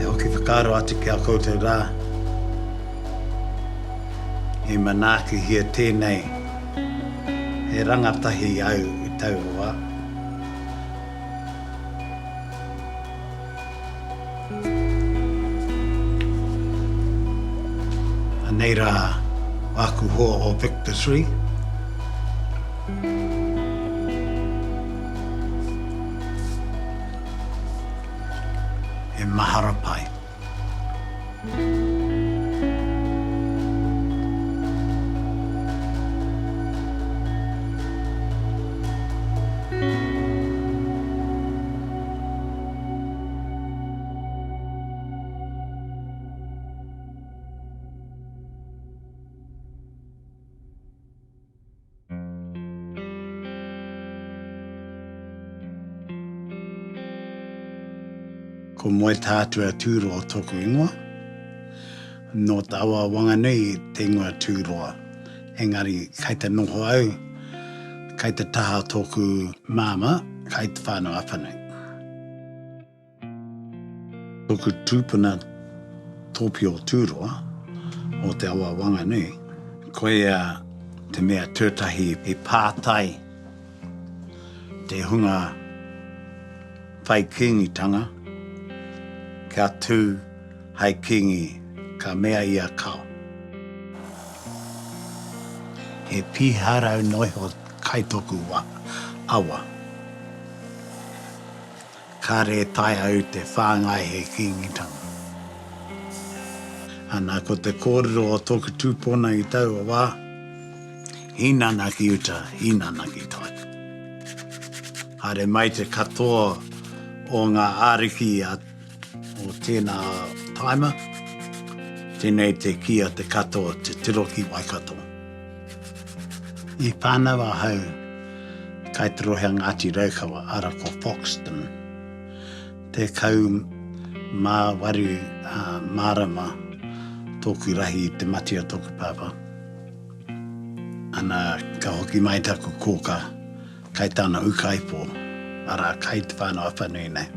E hoki whakaaro atu ki a koutou rā, i manaakihia tēnei he rangatahi au i taua wā. Anei rā āku hoa o Victor Three. He mahara pai. Ko Moe Tātua Tūroa tōku ingoa. Nō Te Awa Wanganui te ingoa Tūroa. Engari, kei te noho au, kei te taha tōku māmā, kei te whānau awha nei. Tōku tūpuna tōpio o Tūroa, o te awa Wanganui, koia te mea tuatahi i pātai te hunga whai Kīngitanga kia tū Hai kingi, ka mea i a Kao. He piharau noa iho kai toku awa. Kare e tae au te whangai he kingitanga. Ana ko te korero o toku tupona i taua wa, Hinana ki uta, hinana ki taku. Haere mai te katoa o nga ariki a. O tēnā taima, tēnei te kī a Te Kato, te tiro ki Waikato. I whānau ahau kai te rohe a Ngāti Raukawa, ara ko Foxton, tekau mā waru mārama tōku rahi i te mati a tōku pāpā. Ana, ka hoki mai taku kōkā. Kai tana ukaipo, ara, kai te whanau a whanui nei.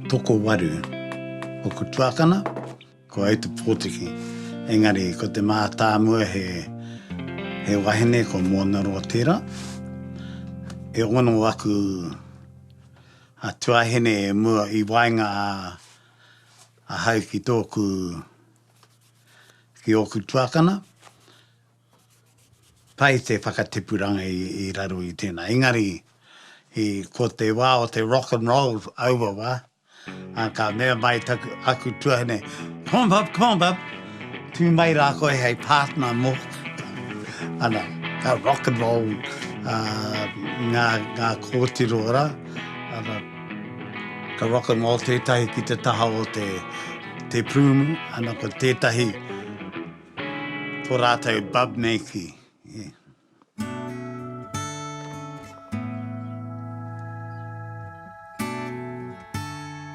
Toko waru, oku tuakana, ko au te potiki. Engari, ko te mātāmua he, he wahine ko Monaroa tera. E ono aku a tuahine e mua i waenga a. Ahau ki tōku, ki ōku tuakana, pai te whakatipuranga i raro i tēnā. Engari, i, ko te wā o te rock and roll aua wā, ā, ka mea mai taku, aku tuahine, Pom pop, pom pop, tū mai rā koe hei partner mōku. Ana, ka rock and roll, ā, ngā, ngā kōtiro rā, ana, Ka whakangao tētahi ki te taha o te te pūmu, ana ko tētahi ko rātou bub nei ki.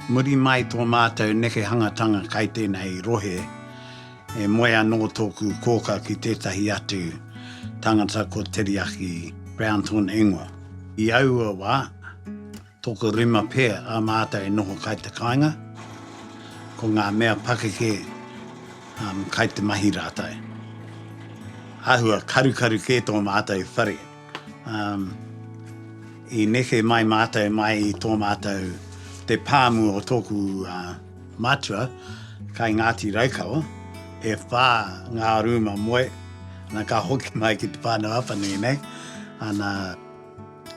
Muri mai tō mātou nekehangatanga kai tēnei rohe. He moe anō tōku kōkā ki tētahi atu tangata ko Teriaki Brownton ingoa. I aua wā, tōku rima pea a mātou e noho kai te kāinga, ko ngā mea pakeke kai te mahi rātou. Āhua karukaru kē tō mātou whare. I neke mai mātou mai i tō mātou te pāmu o tōku mātua kai Ngāti Raukawa, e whā ngā rūma moe, ana ka hoki mai ki te whānau apanui nei, ana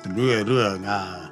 ruarua ngā.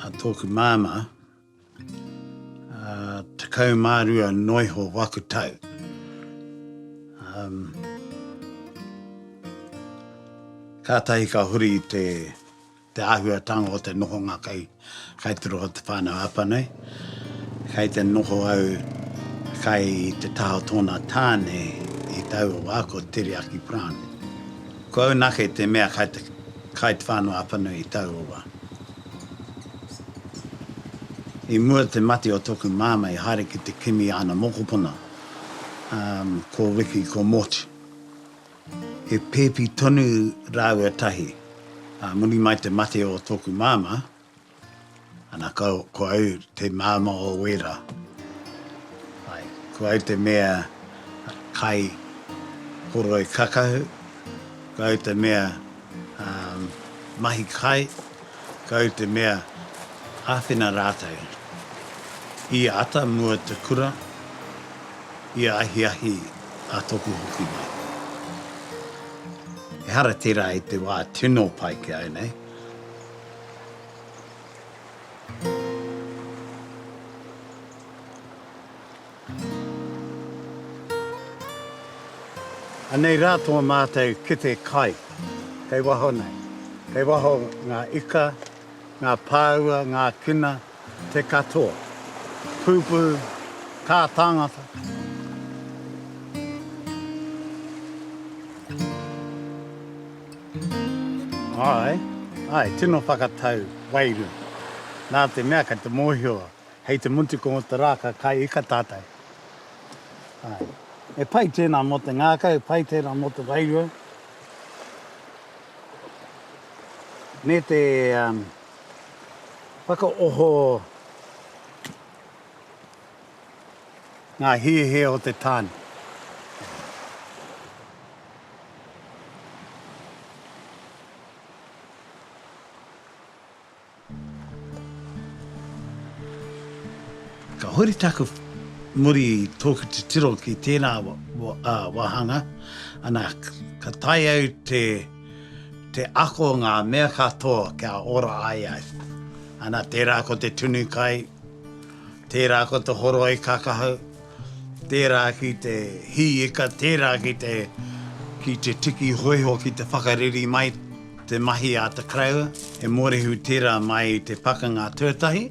A tōku māmā, tekau mā rua noiho waku tau. Kātahi ka huri i te āhuatanga o te nohonga kai tiro o te whānau Apa nei. Kai te noho au kai te taha o tōna tāne i taua wā ko Tere Aki Brown. Ko au nake te mea kai te kai te whanau Apanui i taua wa. I mua te mate o toku mama i haere ki te kimi i ana mokopuna, um, ko Wiki ko Moti. He pepi tonu raua tahi, a muri mai te mate o toku mama, Ana ko au te māmā o Wera. Āe, ko au te mea kai horoi kakahu, ko au te mea mahi kai, ko au te mea āwhina rātou i ata mua te kura, i ahiahi a Toku hoki mai. Ehara tērā i te wā tino pai ki au nei. Anei rā tō mātou kete kai, kei waho nei, kei waho ngā ika, ngā pāua, ngā kina, te katoa, pūpū, kā tāngata. Āe, āe, tino whakatau, wairu. Nā te mea kei te mōhio hei te mutu ko te rā ka kai ika tātou. Āe, e pai tēnā mō te ngākau, pai tērā mō te wairua. Me te whakaoho. Ngā hiahia o te tāne. Ka huri taku muri i tōku titiro ki tēnā wāhanga, ana, ka tae au te ako ngā mea katoa kia ora ai au. Ana, tērā ko te tunu kai. Tērā ko te horoi kakahau, tērā ki te hī ika, tērā ki te, ki te tiki hōiho ki te whakareri mai te mahi a te karaua, he mōrehu tērā mai i te pakanga tuatahi,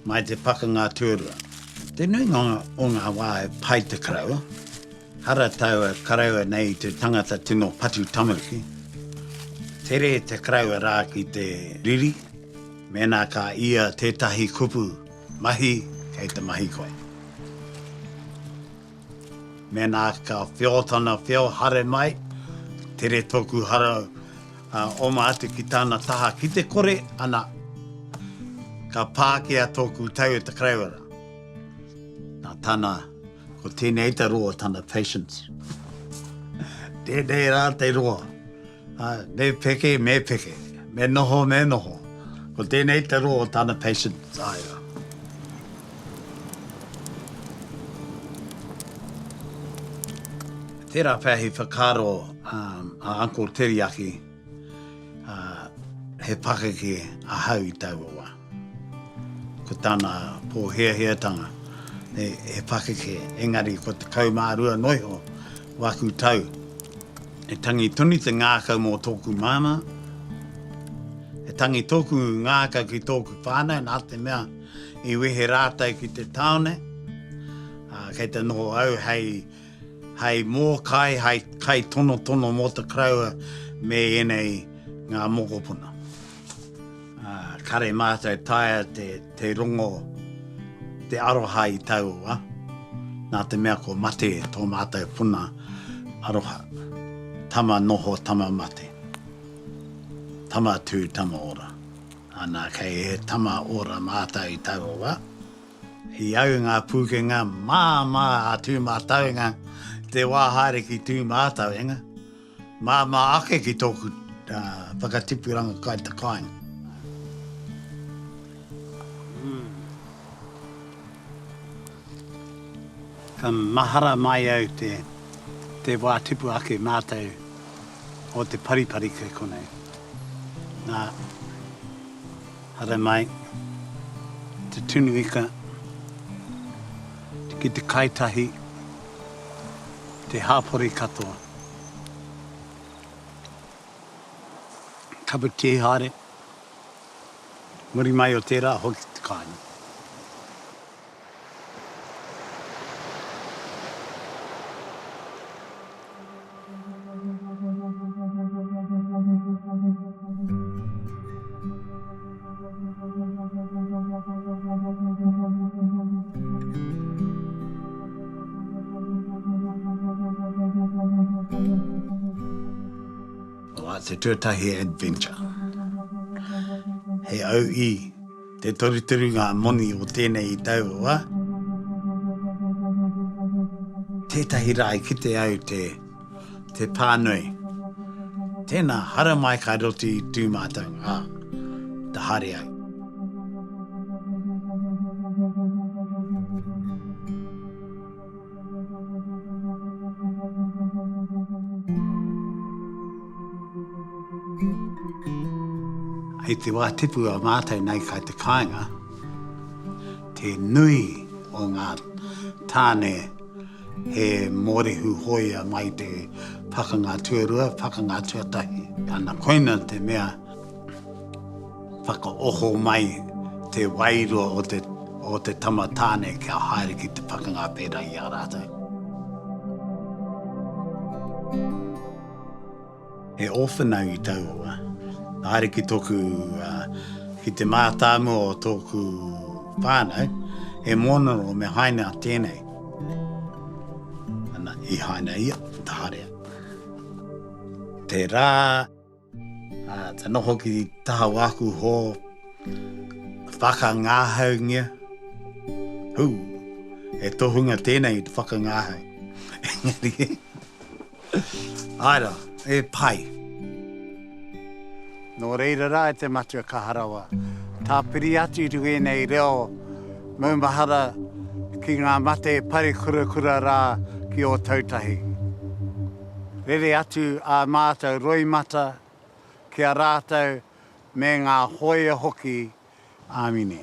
mai te pakanga tuarua. Te nuinga o ngā wā e pā i te karaua, hara taua karaua nei i te tangata tino patu tamariki, tere te karaua rā ki te riri, mēnā ka ia tētahi kupu. Mahi kei te mahi koe. Mēnā ka whio tana whio hare mai, tere tōku hara oma atu ki tāna taha ki te kore, ana, ka pākia tōku tau e te Kareiora. Nā tāna, ko tēnei te roa tana patience. Tēnei rā te roa. Me peke, me peke. Me noho, me noho. Ko tēnei te roa o tana patient taiao. Tērā pea he whakaaro a Uncle Teriaki, he pakeke ahau i taua wā. Ko tana pōhiahiatanga he pakeke, engari kua tekau mā rua noa iho waku tau. He tangi tonu te ngākau mō tōku māmā. He tangi tōku ngākau ki tōku whānau nā te mea i wehe rātou ki te tāone, ā, kei te noho au hei, hei mōkai, hei kaitonotono mō te karaua me ēnei ngā mokopuna. Kare mātou taea te rongo te aroha i taua, nā te mea ko mate tō mātou puna aroha, tama noho, tama mate, tama tū, tama ora. Ana, kei he tama ora mātou i taua wā. I au ngā pūkenga māmā a Tūmātauenga te wā haere ki Tūmātauenga, Māmā ake ki tōku whakatipuranga kai te kāinga. Ka mahara mai au te wā tipu ake mātou o te paripari kai konei. Nā, haere mai, te tunu ika, ki te kai tahi, te hāpori katoa. Cup of tea haere. Muri mai o tērā, hoki te kāinga. Te Tuatahi Adventure. He auhi te torutoru ngā moni o tēnei tau wa. Tētahi rā i kite au te. te pānui. Tēnā, hara mai ka roti tū mātou, ā, ta haere ai. I te wā tipu a mātou nei kai te kāinga, te nui o ngā tāne, He mōrehu hōia mai te pakanga tuarua, pakanga tuatahi. Ana koina te mea whakaoho mai te wairua o te o te tama tāne kia haere ki te pakanga pērā i a rātou. He ōwhana i taua. Haere ki tōku, ki te mātāmua o tōku whānau, he mōnaro me haina tēnei. Ana, i haina ia, taharea. Tērā, ka noho ki taha o āku hō, whakangāhaungia. Hū, he tohunga tēnei whakangāhau. Engari. Āe rā, he pai. Nō reira rā e te Matua Kaha Rawa, tāpiri atu i runga i ēnei reo maumahara ki ngā mate parekurakura rā ki Ōtautahi. Rere atu ā mātou roimata ki a rātou me ngā hōia hoki. Āmine.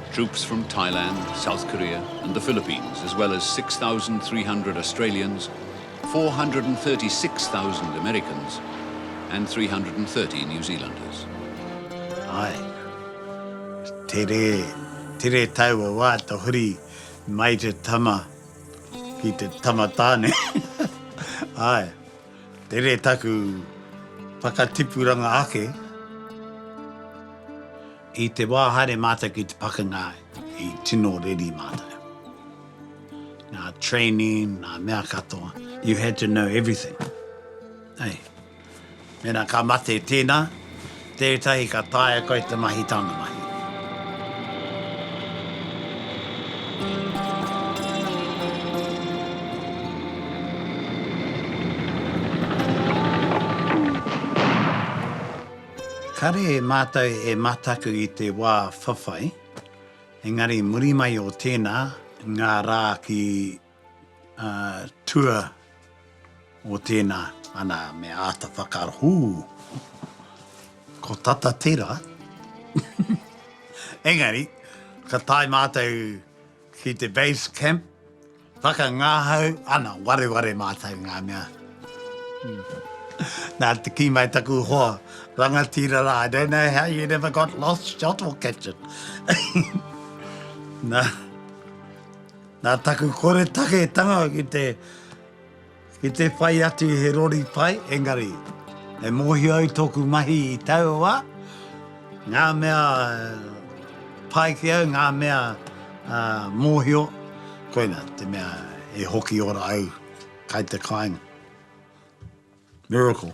Troops from Thailand, South Korea and the Philippines as well as 6,300 Australians, 436,000 Americans and 330 New Zealanders. Ae. Tere, tere taua wa to huri mai te tama ki te tama tane. Ae. Tere taku whakatipuranga ake. I te wā haere mātou ki te pakanga i tino reri mātou. Nā training, nā mea katoa, you had to know everything. Hei, mēnā ka mate tēnā, tētahi ka taea koe te mahi tāna mahi. Kare mātou e mataku i te wā whawhai, engari muri mai o tēnā, ngā rā ki tua o tēnā, ana me āta whakaaro, hū, ko tata tērā, engari ka tae mātou, Ki te Base Camp, whakangahau ana wareware mātou ngā mea. Nā te kī mai taku hoa, rangatira rā, I don't know how you never got lost, shot or captured. Nā, nā taku koretake tanga ki te, Ki te whai atu he rori pai, engari, e mōhio ai tōku mahi i taua ngā mea pai ki au, ngā mea mōhio, koina te mea e hoki ora au kai te kāinga. Miracle.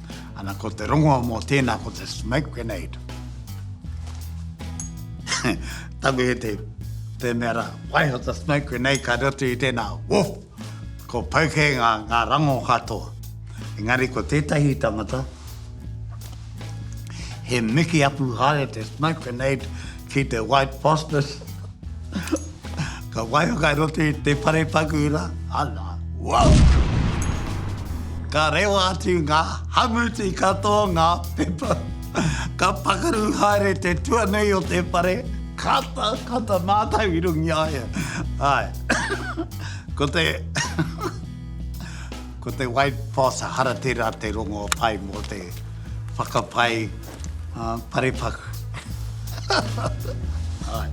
Ana ko te rongoa mō tēnā ko te smoke grenade. Tango e te, te mea ra, waiho te smoke grenade ka roto i tēnā, woof! Ko pauke ngā, ngā rango katoa. Engari ko tētahi tangata, he miki apu haere te smoke grenade, Ki te White Foster's, ka waia kai roto i te whare paku ra, ala, wow! Ka rewa atu nga hamuti katoa nga pepa, ka pakaru haere te tuanui o te whare, kata, kata matou i runga i a ia. Ae, ko te, ko te White Foster, hara tera te rongo pai mo te whakapai, Uh, parepaku. Hai.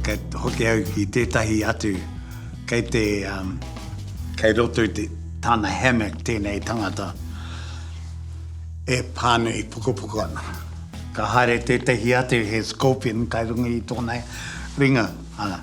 Kei hoki au ki tētahi atu, kei te, um, kei roto i te tāna hammock tēnei tangata e pānui pukapuka ana. Ka haere tētahi atu he scorpion kai runga i tōna ringa. Uh,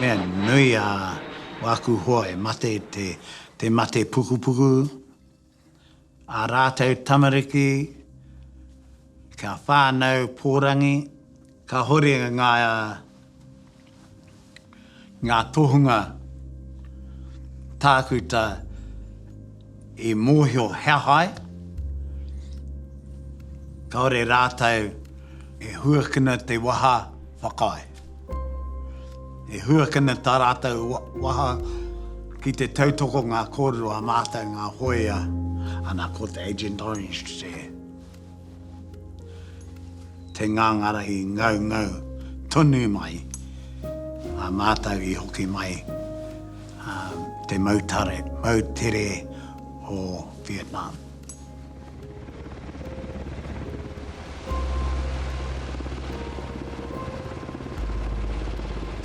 Mea nui a waku hoa e mate te mate pukupuku, a ratou tamariki kia whanau porangi, kahore nga ngā tohunga tākuta i mōhio he aha ai, kāore rātou e huakina te waha whakaae, e huakina tā rātou waha ki te tautoko ngā kōrero a mātou ngā hōia, ana ko te Agent Orange te. Te ngāngara i ngaungau tonu mai a mātou i hoki mai te mautare, moutere o Vietnam.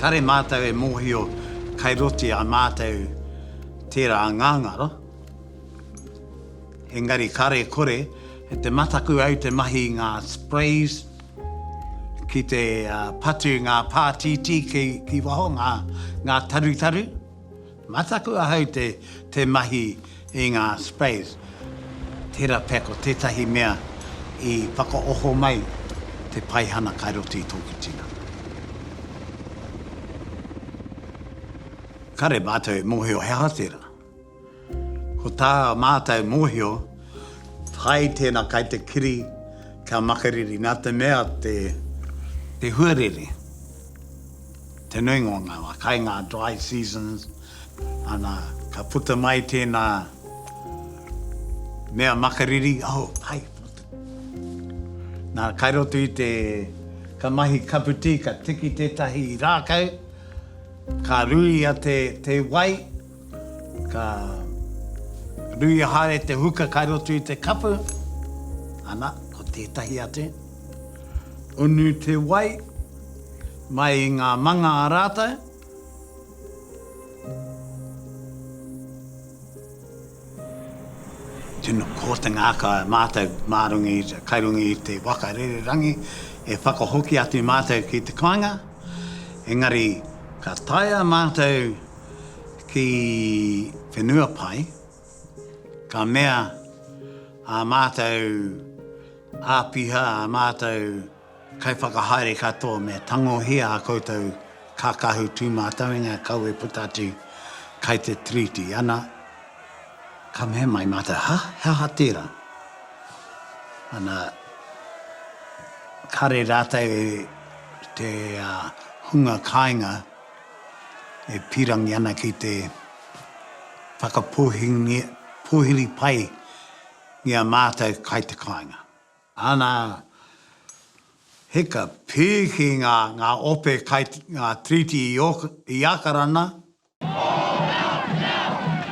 Kare mātou e mōhio kai roti a mātou tērā ngāngara. Engari kare kore te mataku au te mahi i ngā sprays ki te patu i ngā pātītī ki waho, ngā tarutaru. Mataku ahau te mahi i ngā sprays. Tērā pea ko tētahi mea i whakaoho mai te paihana kai roto i tōku tinana. Kare mātou e mōhio he aha tērā. Ko tā mātou mōhio, hai tēnā kai te kiri kia makariri nā te mea te huarere, te nuinga o ngā wā, kai ngā dry seasons, ana ka puta mai tēnā mea makariri, oh hai, nā kai roto i te, ka mahi kapu tī, ka tiki tētahi rākau, ka ruia te wai, Ka ruia haere te huka kai roto i te kapu, ana, ko tētahi atu. Unu te wai mai i ngā manga a rātou. Tino kōtenga aka mātou mārongi, kai runga i te waka rererangi, e whakahoki atu mātou ki te kāinga, engari ka taea mātou ki whenua pai, ka mea ā mātou āpiha, ā mātou kaiwhakahaere katoa me tangohia ā koutou kākahu tūmātauinga kawe puta atu kai te Tiriti, ana, ka mea mai mātou, hā? He aha tērā? Ana, kare rātou te hunga kāinga, e pīrangi ana ki te whakapōhiri pai i a mātou kai te kāinga. Ana hika pēke ngā ope kai ngā treaty i Ākarana. Pō reo, reo!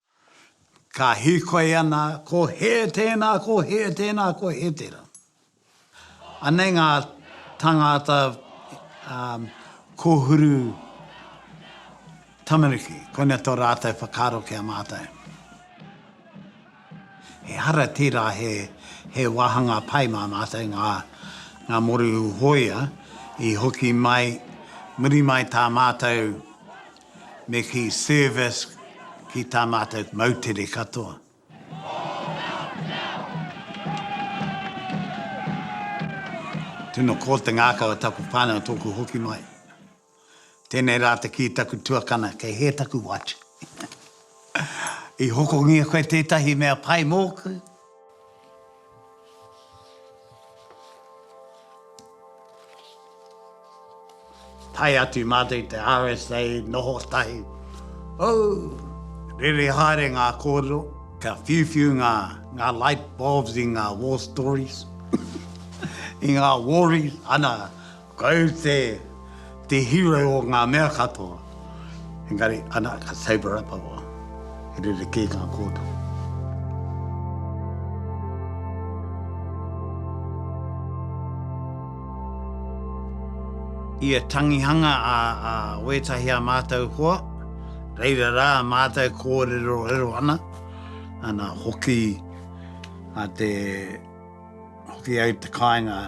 Ka hīkoi ana, ko hē tēnā, ko hē tēnā, ko hē tērā. Anei ngā tāngāta kōhuru tamariki, koina tō rātou whakaaro ki a mātou. Ehara tērā he wāhanga pai mā mātou ngā moru hōia i hoki mai, muri mai tā mātou. me ki Servisk ki tā mātou moutere katoa. Tino ko te ngākau a taku whānau tōku hoki mai. Tēnei rā te kī taku tuakana kei hē taku watch. I hokongia koe tētahi mea pai mōku? Tae atu mātou i te RSA noho tahi. Hou! Rere haere ngā kōrero, ka whiuwhiu ngā light bulbs i ngā war stories, i ngā waris, ana, Kai te, te hero o ngā mea katoa, engari ana ka sabre up a wā, he rerekē ngā kōtiro. Ia tangihanga a, a wētahi a mātou hoa, reira rā mātou kōrerorero ana, ana hoki a te. Hoki ai te kāinga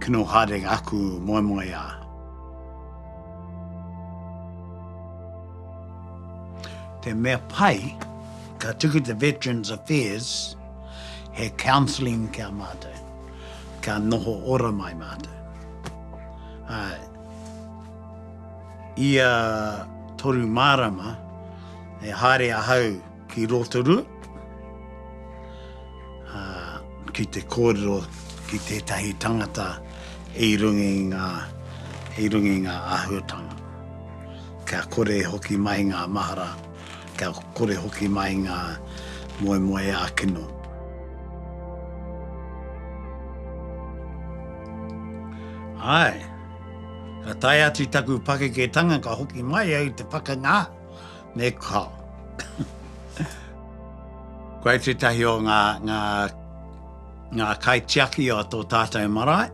kino haere ngā aku moemoe a. Te mea pai, ka tuku te Veterans Affairs he counselling kia mātou, kia noho ora mai mātou. Uh, ia toru mārama, e haere ahau Ki Rotorua, ki te kōrero ki tētahi tangata i runga i ngā, i runga i ngā āhuatanga. Kia kore e hoki mai ngā mahara, kia kore e hoki mai ngā moemoeā kino. Āe, ka tae atu taku pakeketanga ka hoki mai au te pakanga. Me kao. Koe tētahi o ngā, ngā, ngā kaitiaki o tō tātou marae,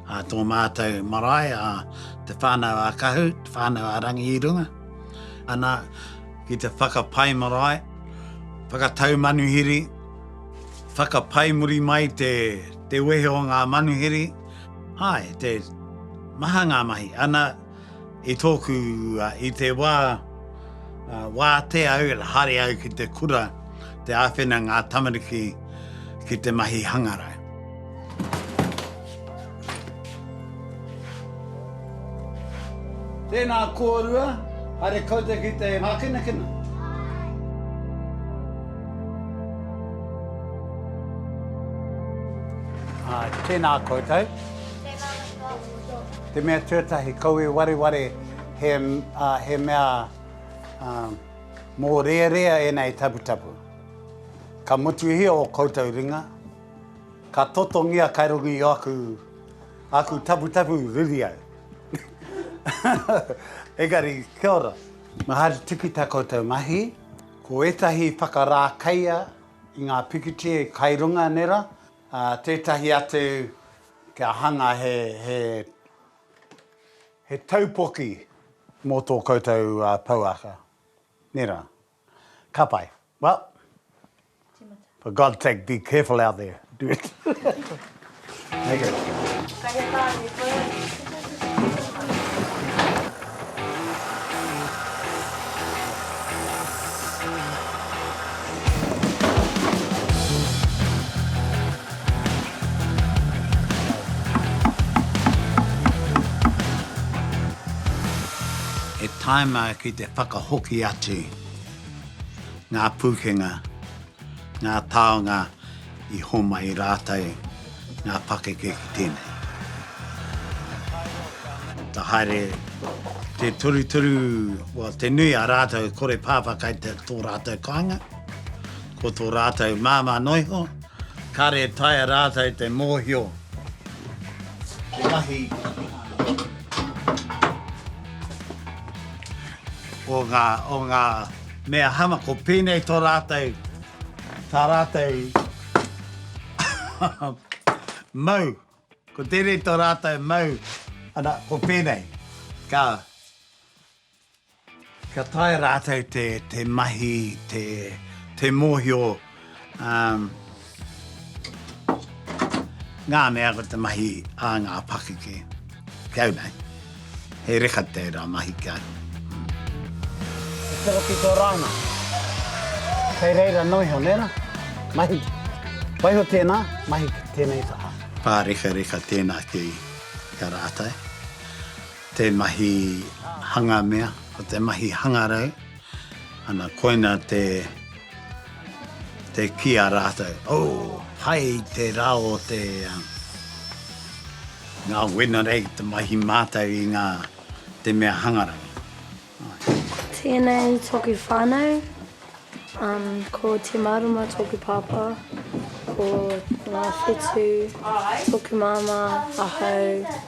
a tō mātou marae, a Te Whānau a Kahu, Te Whānau a Rangi i runga. Ana, ki te whakapai marae, whakatau manuhiri, whakapai muri mai te, te wehe o ngā manuhiri, āe, te maha ngā mahi. Ana, I tōku, i te wā, wātea au, haere au ki te kura, te āwhina ngā tamariki ki te mahi hangarau. Tēnā kōrua, haere koutou ki te mākinakina. Āe. Āe, tēnā koutou. Tēnā koutou. Te mea tuatahi, kau e wareware he, ā, he mea, ā, mōrearea ēnā e taputapu. Ka motuhia ō koutou ringa, ka totongia kai runga i ōku, āku taputapu riri au. Engari, kia ora. Mahari tiki tā koutou mahi. Ko ētahi whakarākeia i ngā pikitia kai runga nera, ā, tētahi atu, Kia hanga he he he taupoki mō tō koutou pouaka. Nē rā. Ka pai. Well, for God's sake be careful out there. Thank you. Thank you. He tāima ki te whakahoki atu ngā pūkenga, ngā taonga I homai rātou ngā pakeke ki tēnei. Ka haere te torutoru, well, te nui a rātou kore pāpā kai te tō rātou kāinga, ko tō rātou māmā noa iho, kāre e taea rātou te mōhio te mahi o ngā, o ngā mea hama, ko pēnei tō rātou. Tā rātou mau. Ko tēnei tō rātou mau. Ana, ko pēnei. Ka, ka taea rātou te, te mahi, te, te mōhio, um, ngā mea ko te mahi a ngā pakeke. Kei au nei. He reka tērā mahi kia. Tero ki tō rānga. Kei reira nō iho, nē rā? Mahi. Waiho tēnā, mahi ki tēnei taha. Pārekareka tēnā ki a rātou. Te mahi hanga mea, ko te mahi hangarau. Ana koina te te ki a ratou oh hai te ra o te nga wenerei te mahi matou i nga te mea hangarau ai. Tenei toku whanau um ko Te Marama toku papa ko Nga Whetu toku mama ahau.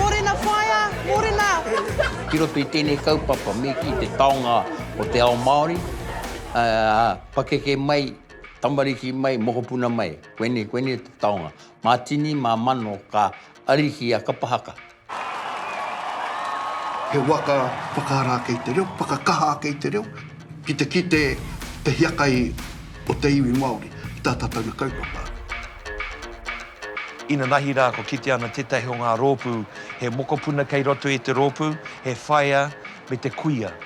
Mōrena whaea, mōrena! Ki roto i tēnei kaupapa me kī te taonga o te ao Māori, pakeke mai, tamariki mai, mokopuna mai, koinei, koinei te taonga. Mā tini, mā mano ka ariki a kapa haka. He waka whakaara ake i te reo, whakakaha ake i te reo, ki te kite te hiakai o te iwi Māori ki tā tātou na kaupapa. Inanahi rā kua kitea ana tētahi o ngā rōpū he mokopuna kei roto i te rōpū, he whaea me te kuia.